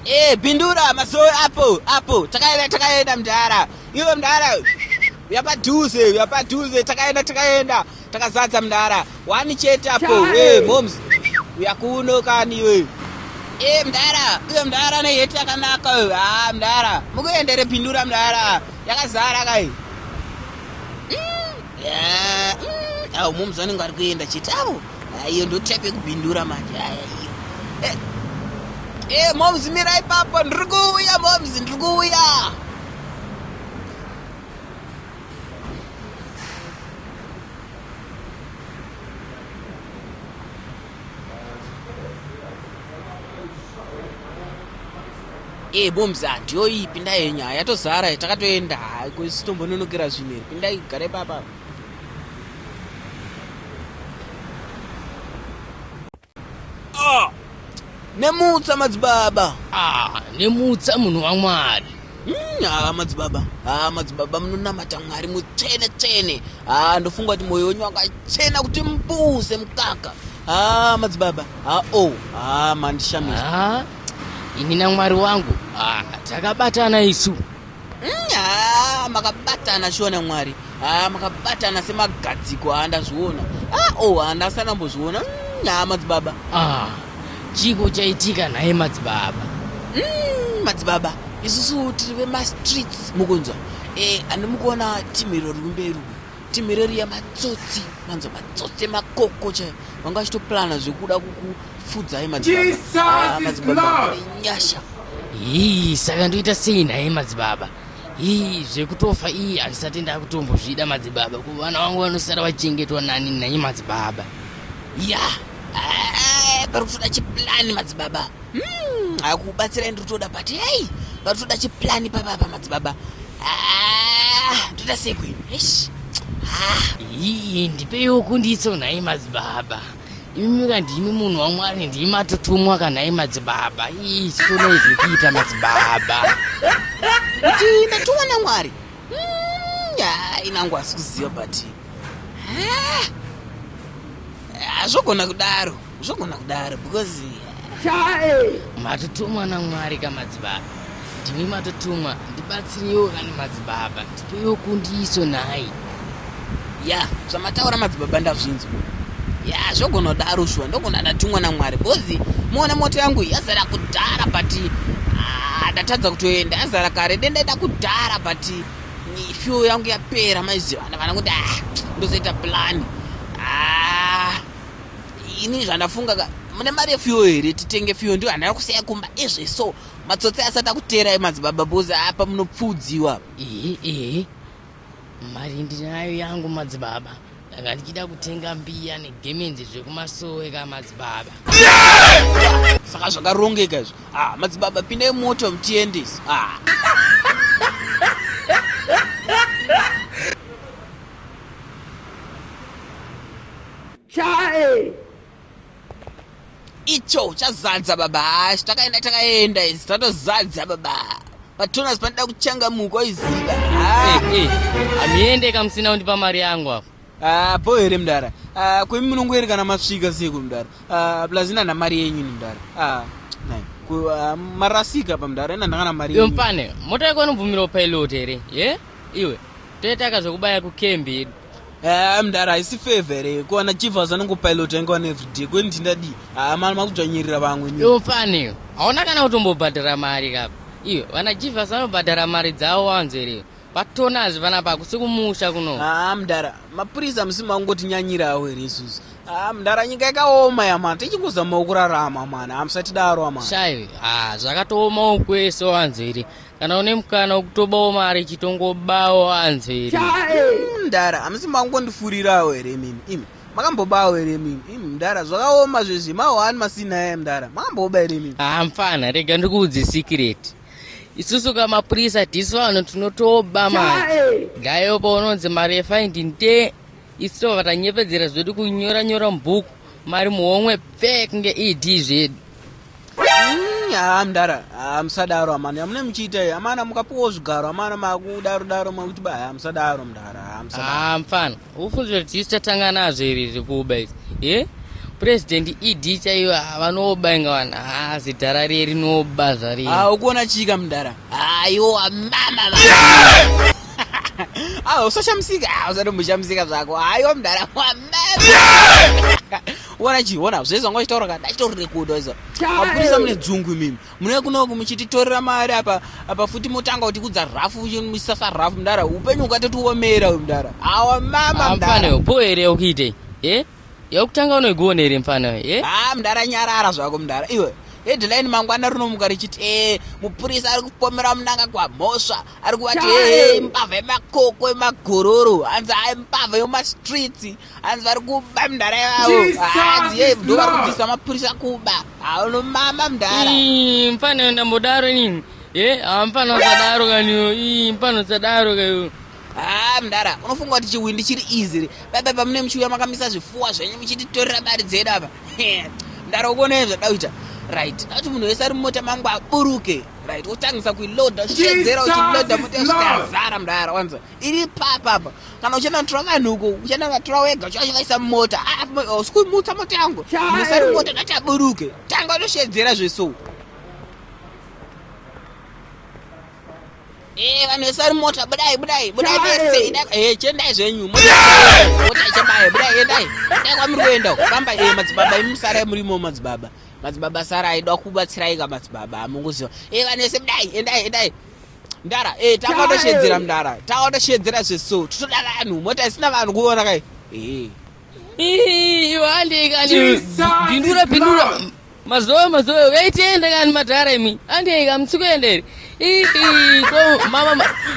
Eh, pindura masowe apo apo takaenda takaenda mdara iwe mdara uyapadhuze uyapadhuze takaenda takaenda Takazadza mdara wani chete apo we moms uyakuno kani we e mdara uyo mdara ne heti yakanaka ha ah, mdara mukuendere pindura mdara yakazara kai mm, yeah, mm, au moms vanenge ari kuenda chete avo iyo ndo type yekupindura manje aya iyo eh, eh moms mira ipapo ndiri kuuya moms ndiri kuuya ee eh, bombs handiyo iyi pindai henyu haya tozara takatoenda kusitombononogira zvinhu iri pindai gare papa Ah, nemutsa madzibaba ah, nemutsa munhu wamwari hmm, haa madzibaba haa madzibaba munonamata mwari mutsvene tsvene haa ndofunga kuti mwoyo wenyu wakachena kuti mbuse mukaka haa madzibaba haa o oh, haa mandishamisa ini namwari wangu takabatana isu Mm, haa makabatana shona mwari haa makabatana semagadziko haa ndazviona haa o oh, handasi anambozviona mm, haa madzibaba ah, chiko chaitika naye madzibaba mm, madzibaba isusu tiri vemastreets mukunzwa e, eh, andimukuona timiro riri kumberi timireriya matsotsi manzo matsotsi makoko chaivo vanga vachitoplana zvekuda kukupfudzai madzibabanyasha ah, hii saka ndoita sei naye madzibaba hii zvekutofa iyi handisati ndakutombozvida madzibaba ko vana vangu vanosara vachengetwa nani naye madzibaba ya yeah. Eh, pari kutoda chiplani madzibaba Hmm, akubatsirai ndiri kutoda but hei vari kutoda chiplani pababa madzibaba ah, ndoda sekwe eish ah. ii ndipeiwo kundiitso nhai madzibaba imi ka ndimi munhu wamwari ndimi matotumwa ka nhai madzibaba ii chitonai zvekuita madzibaba kuti ndatumwa namwari Hmm, ah, inangu asi kuziva but ah, hazvogona kudaro zvogona kudaro because chae matotumwa namwari kamadzibaba ndimi matotumwa ndibatsireiwo kana madzibaba ndipeiwo kundiso nhai ya zvamataura madzibaba ndazvinzwa ya zvogona kudaro shuwa ndogona ndatumwa namwari because muona moto yangu yazara kudhara but ah, ndatadza kutoenda yazara kare dendaida kudhara but fuel yangu yapera maiziva vana kuti ah, ndozoita plani ini zvandafunga ka mune mari yefuyo here titenge fuyo ndiyo handana kusiya kumba izve so matsotsi asati akuteerai madzibaba bose apa munopfuudziwa ihi ihi mari ndinayo yangu madzibaba ndanga ndichida kutenga mbiya negemenzi zvekumasowe ka madzibaba saka zvakarongeka izvo ah, madzibaba pindai moto mutiendesi ah. chae icho chazadza baba hash takaenda takaenda izi tatozadza baba patonas panoda kuchangamuka oiziva hamiendeka musina kundipa mari yangu apo ah, po here mdara ah, kwemi munongoerekana masvika seko mdara ah, plus inana mari yenyu ni mdara marasika pamdara inandangana mari yompane mota yako inobvumirawo pilot here ye iwe Toitaka zvekubaya kucamp yedu. Eh, mdara haisi favor here kuwana chief azanongopilota inga wana everyday kweni tindadii haa ah, mari makudzvanyirira vamwe iwo fani hauna kana kutombobhadhara mari kapa iyo vana chief asanobhadhara mari dzavo wanzo here patona azvi vana pako sekumusha kuno haa ah, mdara mapurisa musi mangotinyanyirawo here isusu haa ah, mdara nyika yakaoma yamana tichingozamawo kurarama mana hamusatidaro amana shaive haa zvakatoomawo kwese wanzo here kana une mukana wekutobawo mari chitongobawo anzveri hmm, mdara hamusi makungondifurirawo here mimi imi makambobawo here mimi imi mdara zvakaoma zvezvi mahwani masina yaye mdara makamboba here mimi haa mfana rega ndikuudze sikireti isusu ka mapurisa tisu vanhu tinotoba mari dayo paunonzi mari yefaindi nte isu vatanyepedzera zvedu kunyora nyora mubhuku mari muhomwe pfek nge ed zvedu haa mdara haa musadaro amana amune muchiita iyi amana mukapuwa zvigaro amana makudaro daro makuti ba haa musadaro mdara haa musadaro haa mfana ufunzwe kuti isu tatanga nazvo iri riri kuuba izi ye president ed chaiyo haa vanooba inga vanhu haa zidhara riye rinooba zvari haa ukuona chika mdara haa iwo wamama va haa usashamisika haa usatomboshamisika zvako haa iwo mdara wamama Wona chi, wona, zvezva ngo chitaura ka, dachitori rekodo izvo. Mapurisa mune dzungu mimi. Mune kuno muchititorera mari apa apa futi motanga kuti kudza rafu musasa rafu mdara. Upenyu ukatoti uomera uyu mdara. Awa mama mdara. Mfana upo here ukite? Eh? Yokutanga unoigona here mfana eh? Ah mdara nyarara zvako mdara. Iwe headline mangwana rinomuka richiti e mupurisa ari kupomera munanga kwamhosva ari kuvati e mbavha yemakoko emagororo hanzi aimbavha yomastreets hanzi vari kuba mdhara yavo hanzi ye ndo vari kubvisa mapurisa kuba haunomama mdhara mfana ndambodaro nini e hamfana usadaro kaniyo i mfana usadaro kayo haa mdhara unofunga kuti chiwindi chiri easy baba pamune muchiuya makamisa zvifuwa zvenyu muchititorera mari dzedu apa mdhara ukuonei zvada kuita right dakuti munhu wese ari mumota mangu aburuke right wotangisa kuiloda uchiedzera uchiloda mota yasvika yazara mdhara wanza iri papa apa kana uchanatura vanhu uko uchanavatura wega uchavaisa mumota ah, ah, oh, sikumutsa mota yangu musari mota ngataburuke tanga unoshedzera zveso eh, vanhu vesari mota budai budai budai vese eh, chendai zvenyu mota ichabaye budai endai dai kwamuri kuenda famba madzibaba imi musarai murimo madzibaba madzibaba sarai da kubatsiraika madzibaba amunguziva vanhu vese budai endai endai mdara eh, takaotashedzera mdara takaotashedzera zveso titoda vanhu mota isina vanhu kuona kai eh. iwandeikanipindura pindura mazoe mazoe uyaitienda kani madhara imi andeika musikuenderi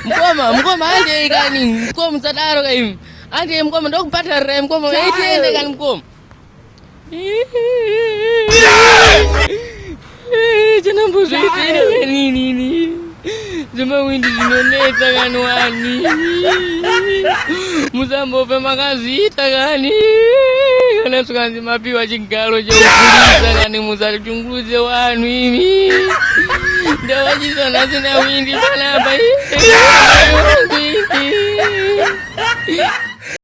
mkoma mkoma andeikani mkoma musadaro kaimi andei mkoma ndokubhadharirai mkoma uyaitienda kani mkoma zvemawindi zvinonetsa kani wani musambofe makazviita kani kana svikanzi mapiwa chigaro chekupurisa kani musachungurudze wanhu imi ndavachisa nhasi nawindi panapa